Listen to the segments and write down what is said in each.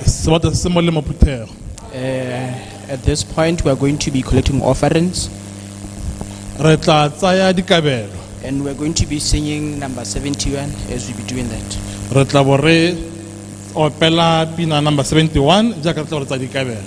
Sebata se mo le maphuthego. Uh, at this point, we are going to be collecting offerings Re tla tsaya dikabelo. and we're going to be singing number 71 as we be doing that. Re tla bo re opela pina number 71 jaaka re tla re tsa dikabelo.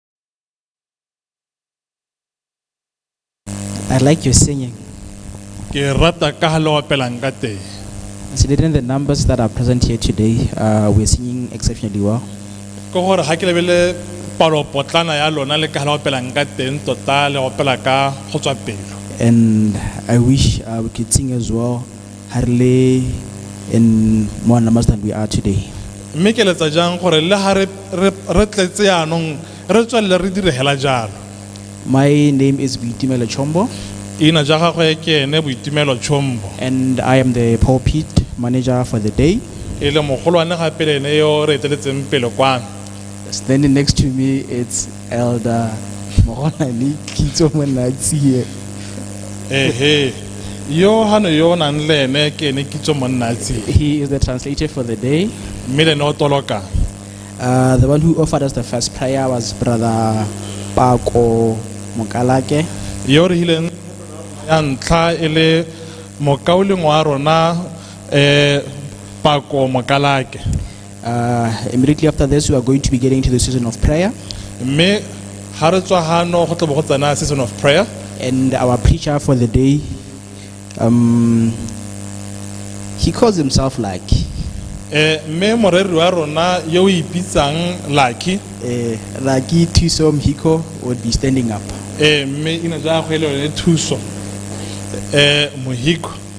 I like your singing. ke rata ka ha le opelang ka teng Considering the numbers that are present here today, uh, we're singing exceptionally well. ke gore ga ke lebele palopotlana ya lona le ka ha le opelang ka teng tota le opela ka go tswa pelo And I wish uh, we could sing as well ha re le in more numbers than we are today. Mme ke letsa jang gore le ha re re re tletse yaanong re tswelele re dire hela jalo. My name is Boitumelo Chombo Ina ja gagwe ke ene Boitumelo Chombo. and I am the pulpit manager for the day. E le mogolwane gape le ene yo re eteletseng pele kwano. Standing next to me, it's elder mogolane kitso monnatsie ehe yo ha ne yo nang le ene ke ene kitso monnatsie he is the translator for the day mme le ne o toloka uh, the one who offered us the first prayer was brother pako mokalake yo re hileng ya ntlha e le mokauleng wa rona eh pako mokalake Uh, immediately after this, we are going to be getting to the season of prayer, mme ga re tswa gano go tlabo go tsena season of prayer and our preacher for the day, um, he calls himself like Eh, mme moreri wa rona yo o ipitsang lucky uh, Laki Tisom Hiko would be standing up. Eh, mme ina ja go ele yone thuso um mohiko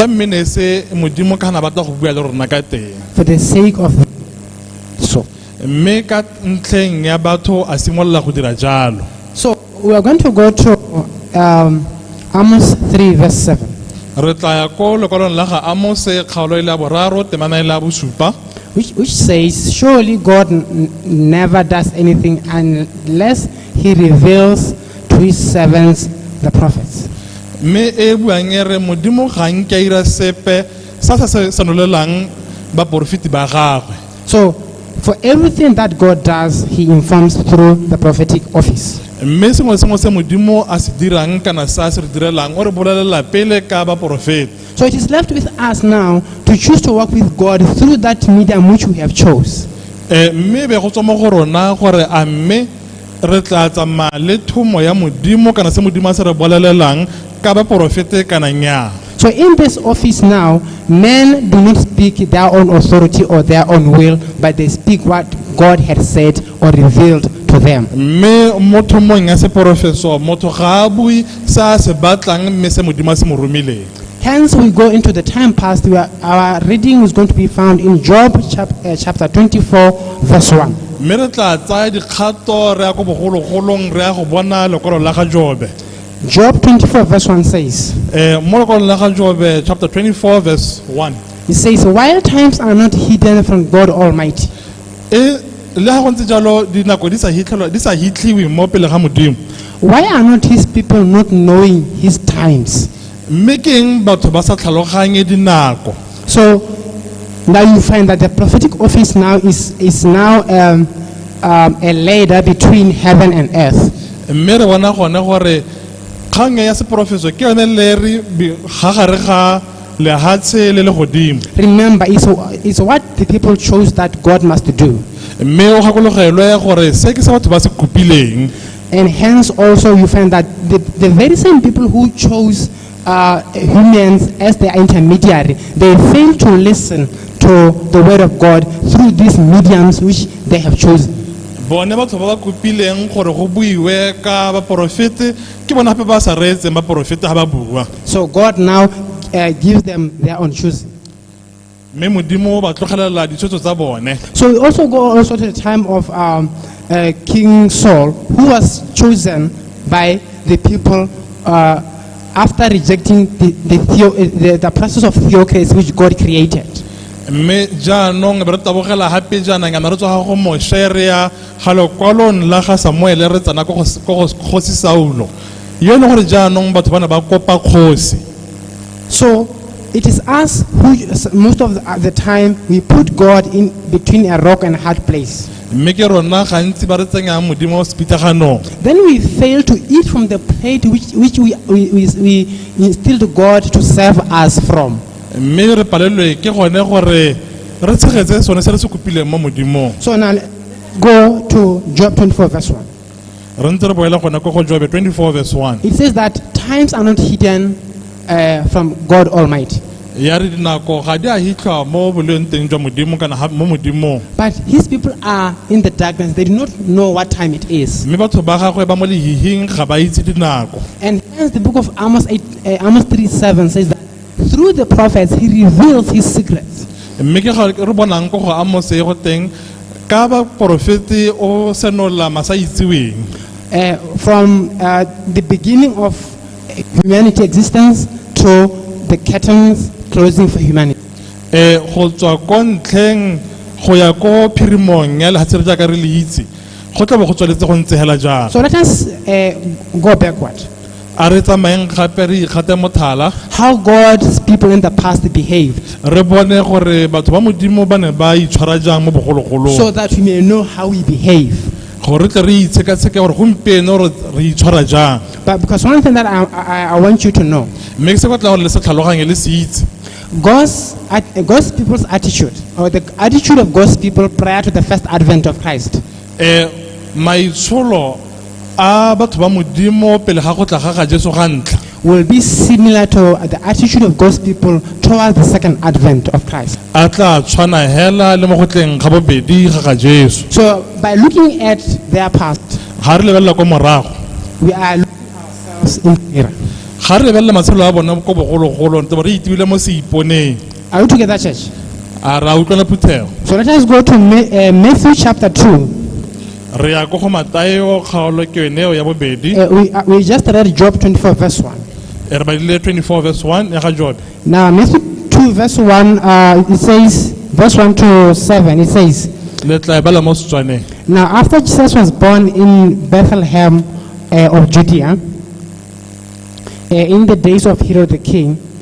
tota mme ne se modimo ka na batla go bua le rona ka teng for the sake of so mme ka ntlheng ya batho a simolola go dira jalo so We are going to go to um, Amos 3, verse 7. re tla ya ko lekwalong la ga amose kgaolo e le ya boraro temana e le ya bosupa Which, which says, Surely God n- n- never does anything unless he reveals to his servants, the prophets. mme e buang e re modimo ga nke a ira sepe sa sa se senolelang baporofeti ba gagwe So, for everything that God does, He informs through the prophetic office. mme sengwe le sengwe se modimo a se dirang kana se a se re direlang o re bolelela pele ka baporofeta So it is left with us now to choose to walk with God through that medium which we have chose. Eh, mme be go tswa mo go rona gore a mme re tla tsamaya le thomo ya modimo kana se modimo a se re bolelelang ka baporofete kana nnyaa So in this office now, men do not speak their own authority or their own will, but they speak what God had said or revealed to them. mme mo thomong ya seporofeso motho ga a bue se a se batlang mme se modimo a se mo romileng Hence, we go into the time past where our reading is going to be found in Job chap- uh, chapter 24, verse 1. mme re tla tsaya dikgato re ya ko bogologolong re ya go bona lekwalo la ga jobe Job 24, verse 1 says, Eh, mo lekwalong la ga jobe chapter 24 verse 1 He says, While times are not hidden from God Almighty, e le ga go ntse jalo dinako di sa hitlhelwa- di sa hitlhiwe mo pele ga modimo why are not his people not knowing his times? Mme ke eng batho ba sa tlhaloganye dinako? So now you find that the prophetic office now is, is now um, um, a ladder between heaven and earth. Mme re bona gone gore kgang ya seporofeso ke yone leri bi- ga gare ga lehatshe le legodimo. Remember, it's, it's what the people chose that God must do. Mme o gakologelwe gore se ke se batho ba se kopileng. And hence also you find that the, the very same people who chose uh, humans as their intermediary, they fail to listen to the word of God through these mediums which they have chosen. bone batho ba ba kopileng gore go buiwe ka baporofete ke bona gape ba sa reetseng baporofete ga ba bua So God now uh, gives them their own choosing. mme modimo o ba tlogelela ditshwetso tsa bone So we also go also to the time of um, uh, King Saul, who was chosen by the people uh, after rejecting the, the, theo- uh, the, the process of theocracy which God created. mme jaanong be re tabogela gape jaanang yana re tswa go moshe re ya ga lekwalong la ga samuele re tsena ko go S- ko go kgosi saulo yo e leng gore jaanong batho ba ne ba kopa kgosi So it is us who, most of the, the time, we put God in between a rock and a hard place. mme ke rona gantsi ba re tsenyang modimo wa sepitlaganong Then we fail to eat from the plate which, which we, we, we, we instilled God to serve us from. mme re palelwe ke gone gore re tshegetse sone se re se kopileng mo modimong So now go to Job 24, verse 1. Re ntse re boela gone ko go Jobe 24 verse 1. It says that times are not hidden uh, from God Almighty, Ya re dinako ga di a hitlhwa mo boleng teng jwa Modimo kana ha- mo Modimong. but his people are in the darkness. They do not know what time it is. Mme batho ba gagwe ba mo lehihing ga ba itse dinako. And hence the book of Amos, 8, uh, Amos 3 7 says that Through the prophets, he reveals his secrets. mme ke ga re bonang ko go amose go teng ka baporofete o senola masa itseweng Uh, from uh, the beginning of humanity existence to the curtains closing for humanity. um go tswa ko ntlheng go ya ko phirimong ya lehatshe re jaaka re le itse go tla bo go tswaletse go ntse hela jalo So let us uh, go backward. a re tsamayeng gape re ikgate mothala how God's people in the past behaved re bone gore batho ba modimo ba ne ba itshwara jang mo so bogologolong that we may know how we behave. gore re tle re itshekatsheke gore gompieno re re itshwara jang But because one thing that I, I, I want you to know mme ke se batla gore le se tlhaloganye le se itse God's, at, God's people's attitude, or the attitude of God's people prior to the first advent of Christ, um maitsholo a batho ba modimo pele ga go tla ga ga jesu ga ntlha will be similar to the attitude of God's people towards the second advent of Christ. a tla tshwana hela le mo go tleng ga bobedi ga ga jesu So, by looking at their past, ga re lebelela kwa morago we are looking ourselves in the mirror. ga re lebelela matshelo a bone ko bogologolong tse bo re itibile mo seiponeng Are we together, church? a ra utlwela phuthego So, let us go to Ma- uh, Matthew chapter 2. Re ya ko go Mateo kgaolo ke yone eo ya bobedi. Uh, we, uh, we just read Job 24, verse 1. E re badile 24 verse 1 ya ga Jobe. Now, Matthew 2, verse 1, uh, it says, verse 1 to 7, it says, Le tla e bala mo Setswaneng. Now, after Jesus was born in Bethlehem uh, of Judea, uh, in the days of Herod the king,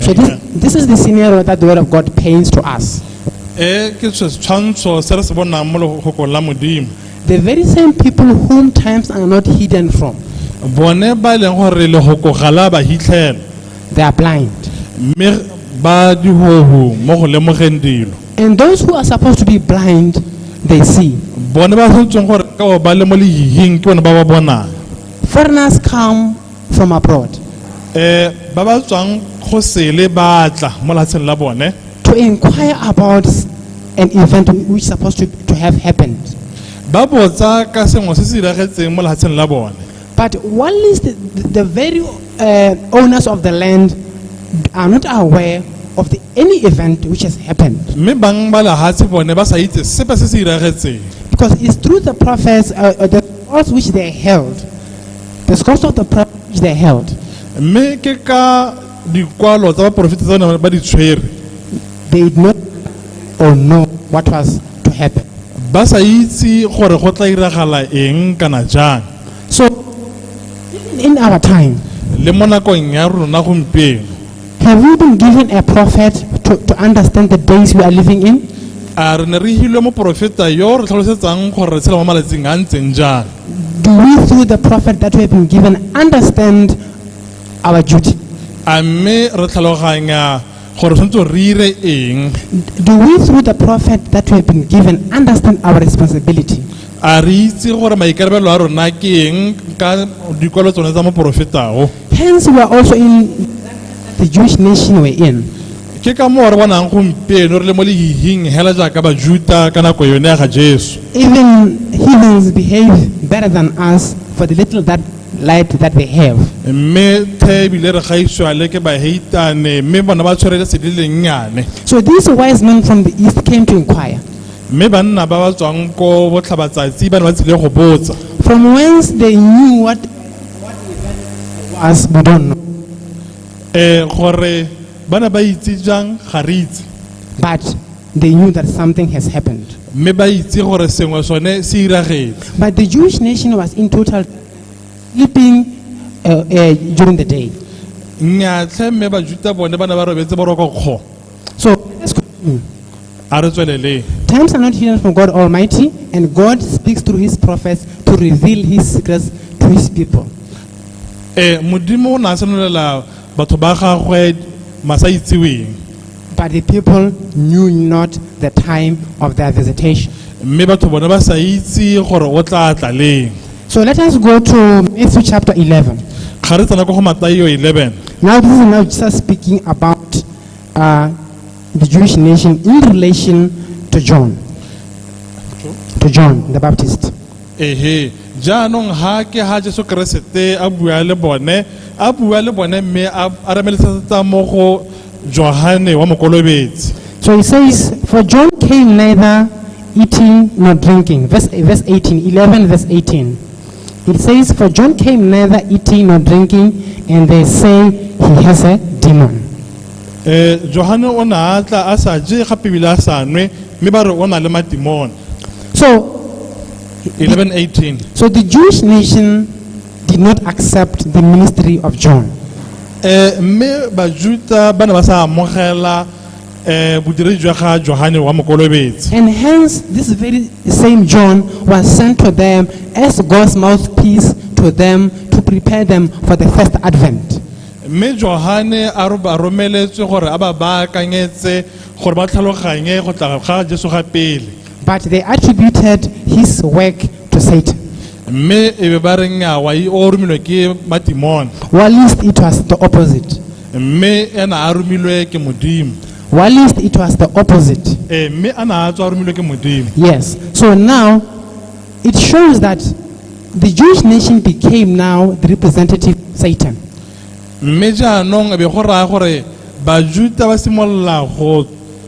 So this, this is the scenario that the Word of God paints to us. e ke se tshwantsho se re se bonang mo legokong la modimo The very same people whom times are not hidden from, bone ba e leng gore legoko ga la ba hitlhela they are blind. mme ba dihohu mo go lemogeng dilo And those who are supposed to be blind, they see. bone ba tshwantseng gore ka bo ba le mo lehihing ke bone ba ba bonang Foreigners come from abroad Eh, ba ba tswang go sele ba tla mo lefatsheng la bone to inquire about s- an event which is supposed to, to have happened. ba botsa ka sengwe se se diragetseng mo lefatsheng la bone But while is the, the very uh, owners of the land are not aware of the, any event which has happened. mme bang ba lefatshe bone ba sa itse sepe se se diragetseng Because it's through the prophets, uh, uh, the laws which they held, because of the privilege they held. mme ke ka dikwalo tsa baporofeta tsa ne ba di tshwere They did not or know what was to happen. ba sa itse gore go tla iragala eng kana jang So, even in our time, le mo nakong ya rona gompieno Have we been given a prophet to, to understand the days we are living in? a re ne re hilwe moporofeta yo o re tlhalosetsang gore re tshela mo malatsing a ntseng jang Do we, through the prophet that we have been given, understand our duty? a mme re tlhaloganya gore tshwanetse re ire eng Do we, through the prophet that we have been given, understand our responsibility? a re itse gore maikarabelo a rona ke eng ka dikwalo tsone tsa moporofetao Hence, we are also in the Jewish nation we're in. ke ka moo re bonang gompieno re le mo lehihing hela jaaka bajuta ka nako yone ya ga jesu Even heathens behave better than us for the little that light that they have. mme the ebile re gaisiwa le ke baheitane mme bona ba tshwere le sedi lennyane So these wise men from the east came to inquire, mme banna ba ba tswang ko botlhabatsatsi ba ne ba tsile go botsa from whence they knew what as we don't know um gore ba ne ba itse jang ga re itse but they knew that something has happened mme ba itse gore sengwe sone se iragetse but the jewish nation was in total sleeping uh, uh, during the day nnyatlhe mme bajuta bone ba ne ba robetse boroko kgo So let's continue. a re tsweleleng Times are not hidden from God Almighty, and God speaks through his prophets to reveal his secrets to his people. ee modimo o ne a senolela batho ba gagwe masa itseweng But the people knew not the time of their visitation. mme batho bone ba sa itse gore o tla tla leng So let us go to Matthew chapter 11. ga re tsena ko go matayo 11 Now, this is now Jesus speaking about uh, the Jewish nation in relation to John, to John the Baptist. ehe jaanong ha ke ha jesu keresete a bua le bone a bua le bone mme a a ramelesetsa mo go johane wa mokolobetsi So he says, For John came neither eating nor drinking. Verse, verse 18, 11, verse 18. It says, For John came neither eating nor drinking, and they say he has a demon. Eh, johane o ne a tla a sa je gape ebile a sa nwe mme ba re o na le matimone So, 1118 so the Jewish nation did not accept the ministry of John. Eh, mme bajuta ba ne ba sa amogela eh bodiri jwa ga johane wa mokolobetsi And hence, this very same John was sent to them as God's mouthpiece to them to prepare them for the first advent. mme johane a ro- a romeletswe gore a ba baakanyetse gore ba tlhaloganye go tla ga jesu ga pele But they attributed his work to Satan. mme e be ba re nyawa e o romilwe ke matimone While least it was the opposite. mme ena a romilwe ke modimo While least it was the opposite. ee mme a na a tswa a romilwe ke modimo Yes. So now it shows that the Jewish nation became now the representative of Satan. mme jaanong e be go raya gore bajuta ba simolola go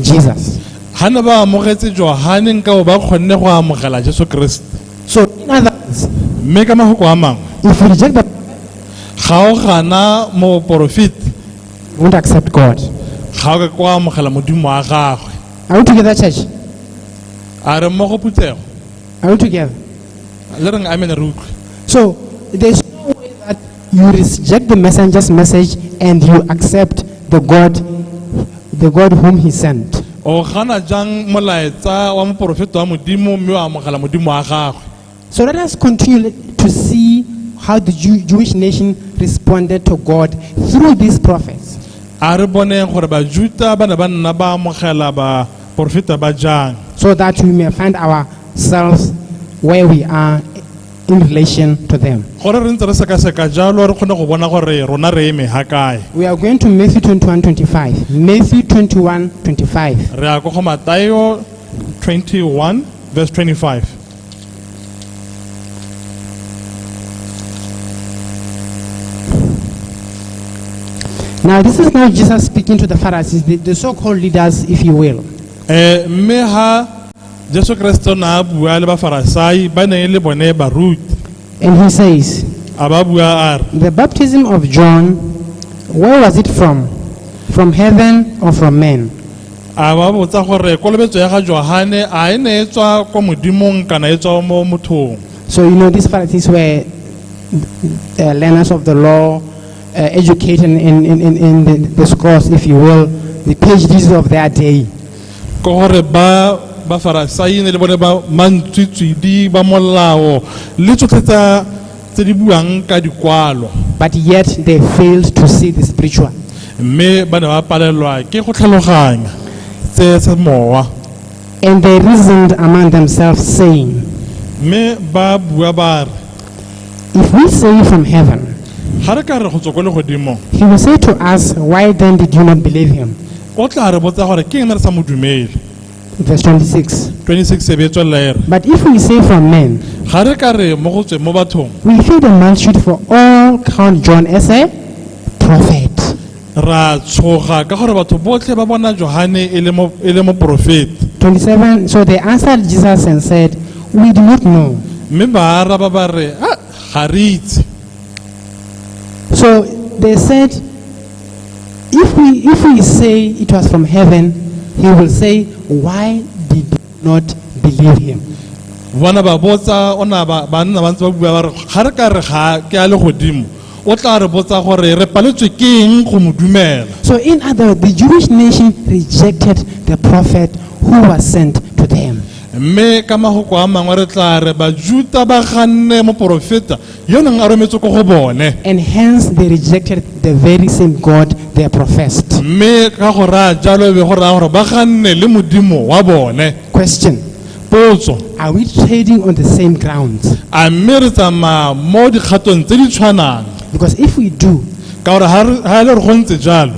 Jesus. ga ne ba amogetse johane nka bo ba kgonne go amogela jesu keresete So, in other words, mme ka mafoko a mangwe if you reject the ga o gana moporofeti you won't accept God. ga o ka ko amogela modimo wa gagwe Are we together, church? a re mmogo putsego Are we together? le reng amen re utlwe So, there's no way that you reject the messenger's message and you accept the God, the God whom he sent. o gana jang molaetsa wa moporofeta wa modimo mme wa amogela modimo wa gagwe So let us continue to see how the Jew, Jewish nation responded to God through these prophets. a re boneng gore bajuta ba ne ba nna ba amogela baporofeta ba jang so that we may find ourselves where we are in relation to them. gore re ntse re sekaseka jalo re kgone go bona gore rona re eme ha kae We are going to Matthew 21 25. Matthew 21 25. re ya ko go matayo 21 verse 25 Now, this is now Jesus speaking to the Pharisees, the, the so called leaders, if you will. Eh, mme ha Jesu Kriste o ne a bua le Bafarasai ba ne e le bone baruti. And he says, A ba bua a re, The baptism of John, where was it from? From heaven or from men? a ba botsa gore kolobetso ya ga Johane a e ne e tswa kwa modimong kana e tswa mo mothong. So, you know, these Pharisees were uh, learners of the law, uh, educated in, in, in, in the, the scrolls, if you will, the PhDs of their day. ke gore ba ba farasaine le bone ba mantswitswidi ba molao le tsotlhe tsa tse di buang ka dikwalo but yet they failed to see the spiritual. mme ba ne ba palelwa ke go tlhaloganya tse tsa mowa And they reasoned among themselves, saying, mme ba bua ba re If we say from heaven, ga re ka re go tswa ko legodimong he will say to us, Why then did you not believe him? o tla re botsa gore ke eng re sa mo dumele Verse 26. 26 se be e tswelela e re But if we say from men, ga re ka re mo go tsweng mo bathong we feed a multitude for all count John as a prophet. ra tshoga ka gore batho botlhe ba bona johane e le mo- e le moporofeti 27. So they answered Jesus and said, We do not know. mme ba araba ba re "Ah, ga re itse So they said, If we, if we say it was from heaven, he will say, Why did you not believe him? bona ba botsa o na ba ba nna ba ntse ba bua ba re ga re ka re ga ke a le godimo o tla re botsa gore re paletswe ke eng go mo dumela So, in other words, the Jewish nation rejected the prophet who was sent to them. mme ka magoko a mangwe re tla re bajuta ba ganne moporofeta yo neng a rometswe ko go bone And hence they rejected the very same God they are professed. mme ka go raya jalo e be go raya gore ba ganne le modimo wa bone Question potso Are we trading on the same ground? a mme re tsamaya mo dikgatong tse di tshwanang Because if we do, ka gore ga re- ga e le re go ntse jalo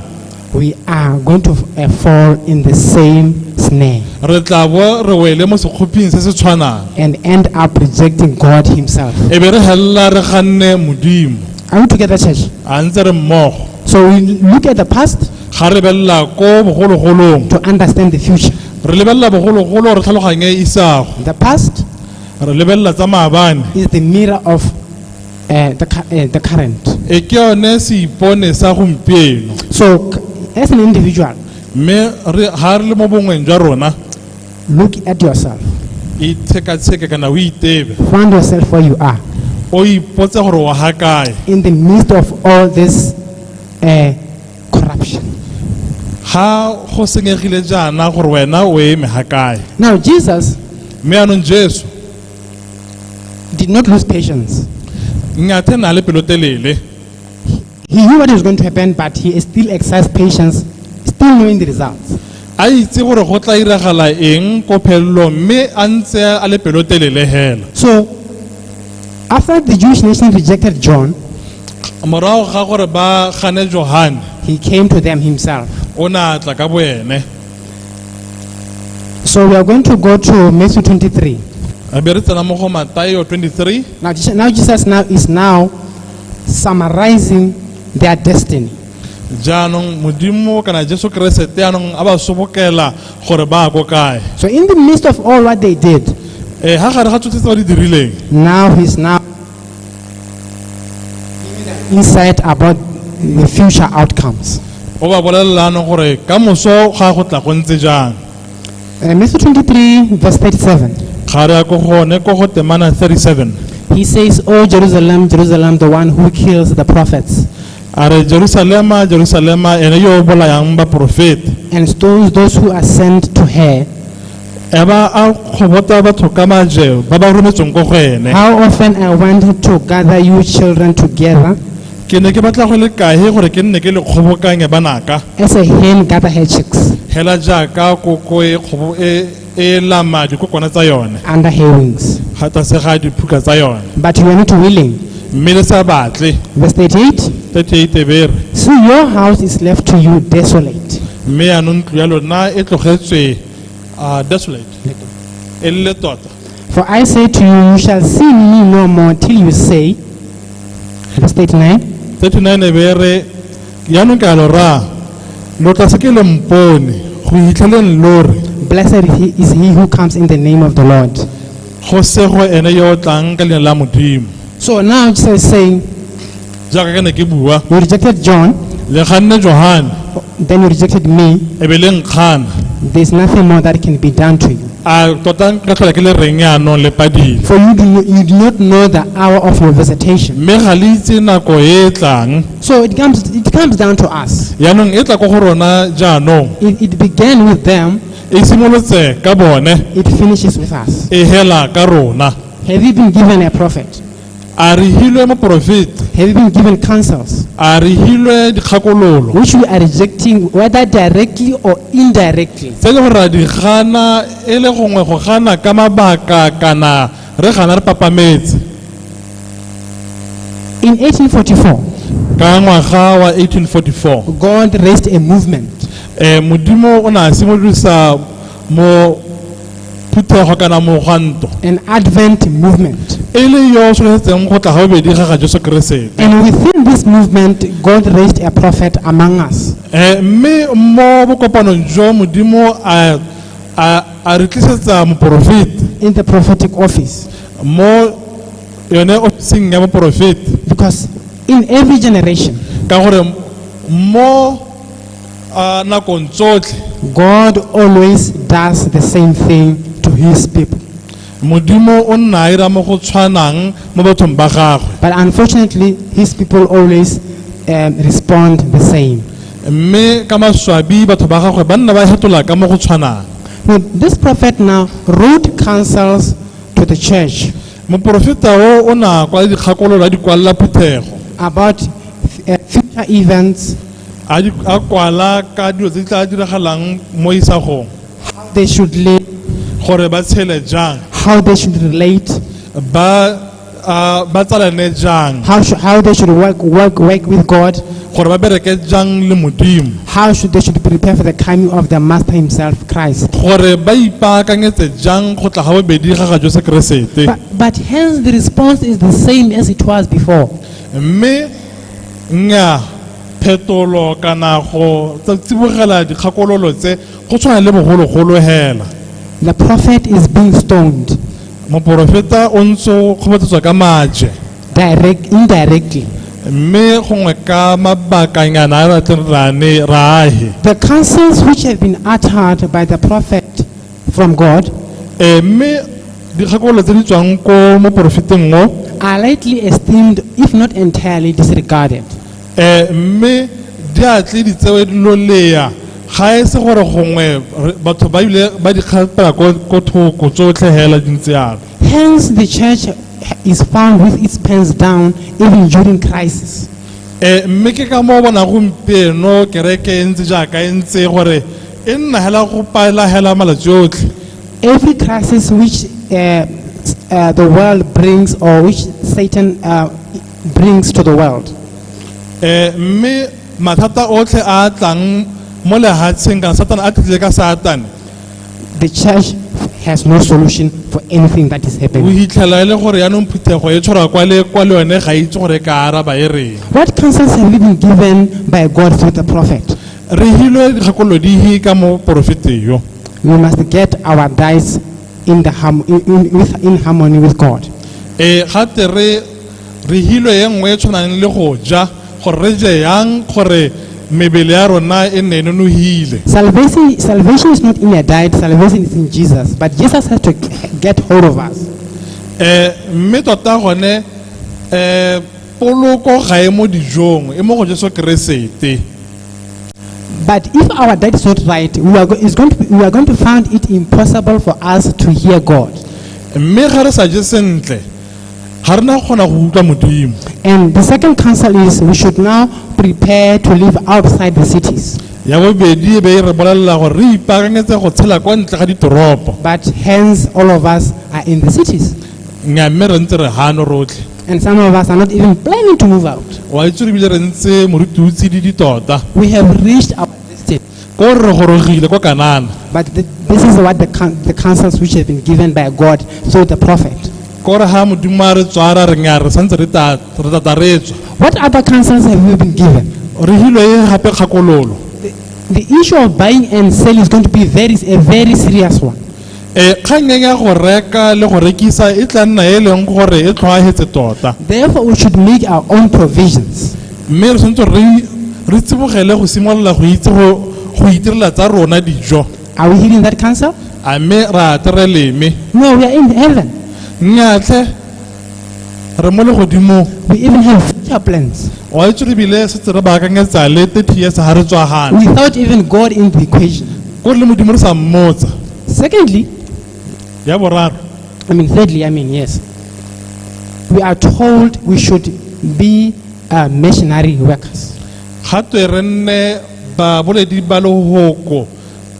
We are going to uh, fall in the same snare re tla bo re wele mo sekgoping se se tshwanang and end up rejecting God Himself. e be re helela re ganne modimo Are we together, church? a ntse re mmogo So we look at the past ga re belela ko bogologolong to understand the future. re lebelela bogologolo re tlhaloganye isago The past re lebelela tsa maabane is the mirror of uh, the, cu- uh, the current. e ke yone seipone sa gompieno So, c- as an individual, mme re- ga re le mo bongweng jwa rona look at yourself. itshekatsheke kana o itebe Find yourself where you are o ipotse gore wa ga kae in the midst of all this uh, corruption. ga go senyegile jaana gore wena o eme ga kae Now, Jesus mme anong jesu He did not lose patience. Ngathe na le pelotelele. He knew what was going to happen, but he still exercised patience, still knowing the results. A itse gore go tla iragala eng ko phelelong mme a ntse a le pelotelele hela. So, after the Jewish nation rejected John, Morago ga gore ba gane Johane, he came to them himself. o ne a tla ka boene. So we are going to go to Matthew 23. re be re tsena mo go matayo 23 Now, Je- now Jesus now is now summarizing their destiny. jaanong modimo kana jesu keresete anong a ba sobokela gore ba ko kae So in the midst of all what they did, um ga gare ga tsotlhe tse ba di dirileng now he's now He said about the future outcomes. o ba bolelelano gore ka moso ga go tla go ntse jang Uh, Matthew 23, verse 37. ga re ya ko gone ko go temana 37 He says, Oh, Jerusalem, Jerusalem, the one who kills the prophets a re jerusalema jerusalema ene yo o bolayang baporofeta and stones those who are sent to her. a ba a kgobota batho ka maje ba ba rometsweng ko go ene How often I wanted to gather you children together ke ne ke batla go le kae gore ke nne ke le kgobokanye banaka as a hen gather her chicks hela jaaka koko e kgobo e e lama dikokwana tsa yone under her wings. ga tlase ga diphuka tsa yone But you are not willing. mme le sa batle Verse 38. 38 bere So your house is left to you desolate. mme yaanong ntlo ya lona e tlogetswe are desolate e le tota For I say to you, you shall see me no more till you say, verse 39, 39 e be re yaanong ke a lo raya lo tla se ke le mpone go itlheleng lo re Blessed he- is he who comes in the name of the Lord. go sego ene yo o tlang ka leina la modimo So now Jesus is saying, jaaka ke ne ke bua You rejected John, le kganne johane then you rejected me. e be le nkgana There's nothing more that can be done to you. a tota ka tlhola ke le reng yaanong le padile For you do, not, you do not know the hour of your visitation. mme ga le itse nako e e tlang So it comes, it comes down to us. yaanong e tla ko go rona jaanong It, it began with them, e simolotse ka bone it finishes with us. e hela ka rona Have you been given a prophet? a re hilwe moporofeta Have you been given counsels a re hilwe dikgakololo which we are rejecting, whether directly or indirectly? tse e le gore ra di gana e le gongwe go gana ka mabaka kana re gana re papametse In 1844, ka ngwaga wa 1844 God raised a movement um modimo o ne a simolosa mo phuthego kana mogwanto an Advent movement. e le yo o tshwanetseng go tla gabobedi ga ga jesu keresete And within this movement, God raised a prophet among us. Eh, mme mo bokopanong jo modimo a a a re tlisetsa moporofeti in the prophetic office mo yone ofising ya boporofeti because in every generation ka gore mo a nakong tsotlhe God always does the same thing to his people. modimo o nna a ira mo go tshwanang mo bathong ba gagwe But unfortunately, his people always um, respond the same. mme ka maswabi batho ba gagwe ba nna ba fetola ka mo go tshwanang Now, this prophet now wrote counsels to the church moporofeta o o na kwala dikgakololo a di kwalela phuthego about uh, future events A di a kwala ka dilo tse di tla diragalang mo isagong how they should live, gore ba tshele jang how they should relate, ba ah, ba tsalane jang how, sh- how they should work, work, work with God, gore ba bereke jang le modimo how should they should prepare for the coming of their Master Himself, Christ. gore ba ipaakanyetse jang go tla ga bobedi ga ga jose keresete But, but hence the response is the same as it was before. mme Nnyaa, phetolo kana go tsa- tsibogela dikgakololo tse go tshwana le bogologolo hela. The prophet is being stoned Moporofeta o ntse o kgobatsetswa ka maje direct, indirectly. mme gongwe ka mabakanyana a re atleng ra ne ra ahe. The counsels which have been uttered by the prophet from God Eh, mme dikgakololo tse di tswang ko moporofeteng o are lightly esteemed, if not entirely disregarded. eh, mme di a tle di tsewe loleya ga e se gore gongwe re- batho ba ile ba di kgapela ko ko thoko tsotlhe hela di ntse yalo Hence, the church is found with its pants down even during crisis. Eh, mme ke ka moo bona gompieno kereke e ntse jaaka e ntse gore e nna hela go paela hela malatsi otlhe every crisis which uh, uh, the world brings or which Satan uh, brings to the world. eh mme mathata otlhe a a tlang mo lehatsheng kana satane a tlile ka satane The church has no solution for anything that is o happening. hitlhela e le gore yaanong phuthego e tshwarwa kwa le kwa le yone ga e itse gore e ka araba e reng What counsels have we been given by God through the prophet? Re hilwe dikgakolodihi ka mo porofeteng yo. We must get our dice in, the harm- in, in, with, in harmony with God. E ga te re re hilwe e nngwe e tshwanang le go ja gore re je yang gore mebele ya rona e nne e nonogile. Salvation, salvation is not in a diet, salvation is in Jesus. But Jesus has to get hold of us. Eh mme tota gone eh Poloko ga e mo dijong, e mo go Jesu Keresete. But if our dad is not right, we are, go- it's going to be, we are going to find it impossible for us to hear God. Mme ga re sa je sentle, ga re na kgona go utlwa Modimo. And the second counsel is we should now prepare to live outside the cities. Ya bobedi e be e re bolelela gore re ipaakanyetse go tshela kwa ntle ga ditoropo. But hence, all of us are in the cities. Nya mme re ntse re gano rotlhe. And some of us are not even planning to move out. wa itse re bile re ntse moruti o tsididi tota We have reached our destiny. ko re gorogile ko kanana But th- this is what the, coun the counsels which have been given by God through the prophet. ko re ga modimo a re tswara re nya re santse re ta- re tata re tswa What other counsels have we been given? re hilwe e gape kgakololo The issue of buying and selling is going to be very, a very serious one. Eh, kgang e ya go reka le go rekisa e tla nna e leng gore e tlhoahetse tota Therefore, we should make our own provisions. mme re tshwanetse re re tsibogele go simolola go itse go go itirela tsa rona dijo Are we hearing that counsel? a mme ra tere leme No, we are in heaven. nnyatlhe re mo legodimong We even have future plans wa itse re bile setse re baakanyetsa le 30 years ga re tswa gana without even God in the equation. ko le modimo re sa mmotsa Secondly, ya boraro I mean, thirdly, I mean, yes. We are told we should be uh, missionary workers. ga twe re nne baboledi ba lehoko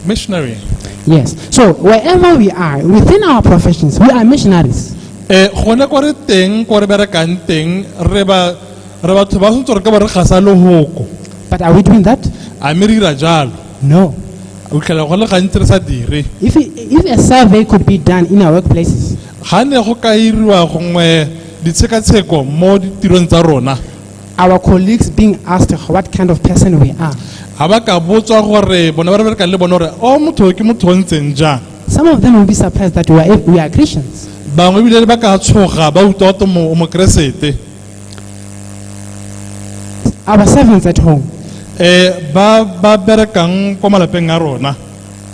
Missionary. Yes. So wherever we are, within our professions, we are missionaries. Eh, gone ko re teng ko re berekang teng re ba re batho ba santse re ka ba re gasa lehoko But are we doing that? a mme re dira jalo No. o tlhela go le gantsi re sa dire If, it, if a survey could be done in our workplaces, ga ne go ka iriwa gongwe ditshekatsheko mo ditirong tsa rona our colleagues being asked what kind of person we are. ga ba ka botswa gore bona ba re berekang le bone gore o motho ke motho o ntseng jang Some of them will be surprised that we are, we are Christians. bangwe ebile ba ka tshoga ba utlwa gote o mokeresete Our servants at home, um ba ba berekang kwa malapeng a rona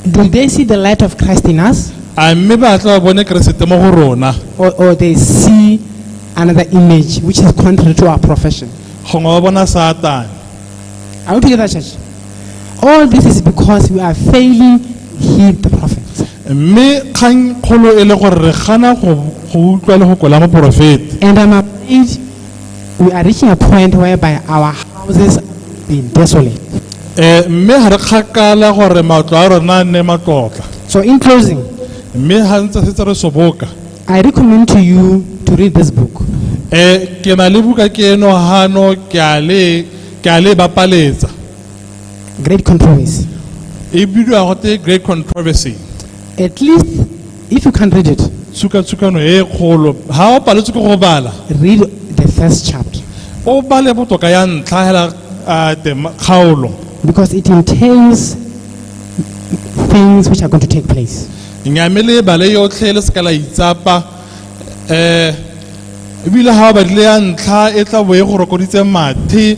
Do they see the light of Christ in us? a mme ba tla ba bone keresete mo go rona Or, or they see another image which is contrary to our profession? gongwe ba bona satane Are we together, church? All this is because we are failing heed the prophets. mme kgang kgolo e le gore re gana go go utlwa le go kwela moporofeta And I'm afraid we are reaching a point whereby our houses have been desolate. Eh, mme ga re kgakala gore matlo a rona a nne matlotla So in closing, mme ga ntse setse re soboka I recommend to you to read this book. Eh, ke na le buka ke eno gano ke a le ke a le bapaletsa Great Controversy. e bidiwa gote great controversy At least, if you can't read it, tshukatshukano e kgolo ga o paletswe ke go bala read the first chapter o bale botoka ya ntlha hela ah, tema- kgaolo because it entails things which are going to take place. nyame le bale yotlhe le seka la itsapa um ebile ga o badile ya ntlha e tla bo e go rokoditse mathe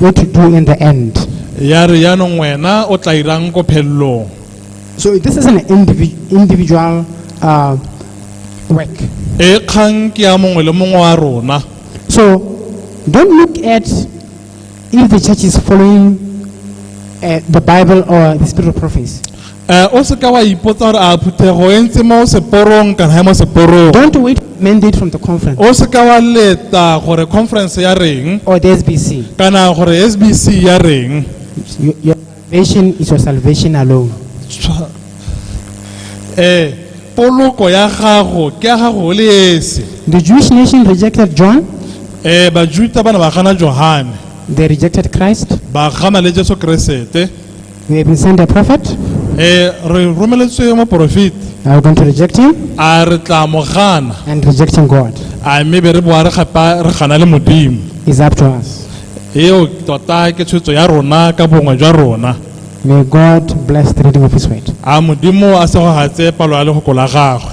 What to do in the end. ya re yaanong wena o tla irang ko phelelong So this is an indivi- individual uh, work. e kgang ke ya mongwe le mongwe wa rona So don't look at if the church is following uh, the Bible or the spirit of prophecy. Eh, o se ka wa ipotsa gore a phuthego e ntse mo seporong kana ya mo seporong Don't wait for a mandate from the conference o se ka wa leta gore conference ya reng or the SBC. kana gore sbc ya reng Your, your salvation is your salvation alone. Tshwa- eh poloko ya gago ke ya gago o le esi The Jewish nation rejected John, eh bajuta ba ne ba gana johane they rejected Christ, ba gana le jesu keresete We have been sent a prophet. Eh, re romeletswe moporofeti Are we going to reject him a re tla mo gana and rejecting God a mme be re boa re gapa re gana le modimo is up to us. eo tota ke tshwetso ya rona ka bongwe jwa rona May God bless the reading of His word. a modimo a segogatse palo ya legoko la gagwe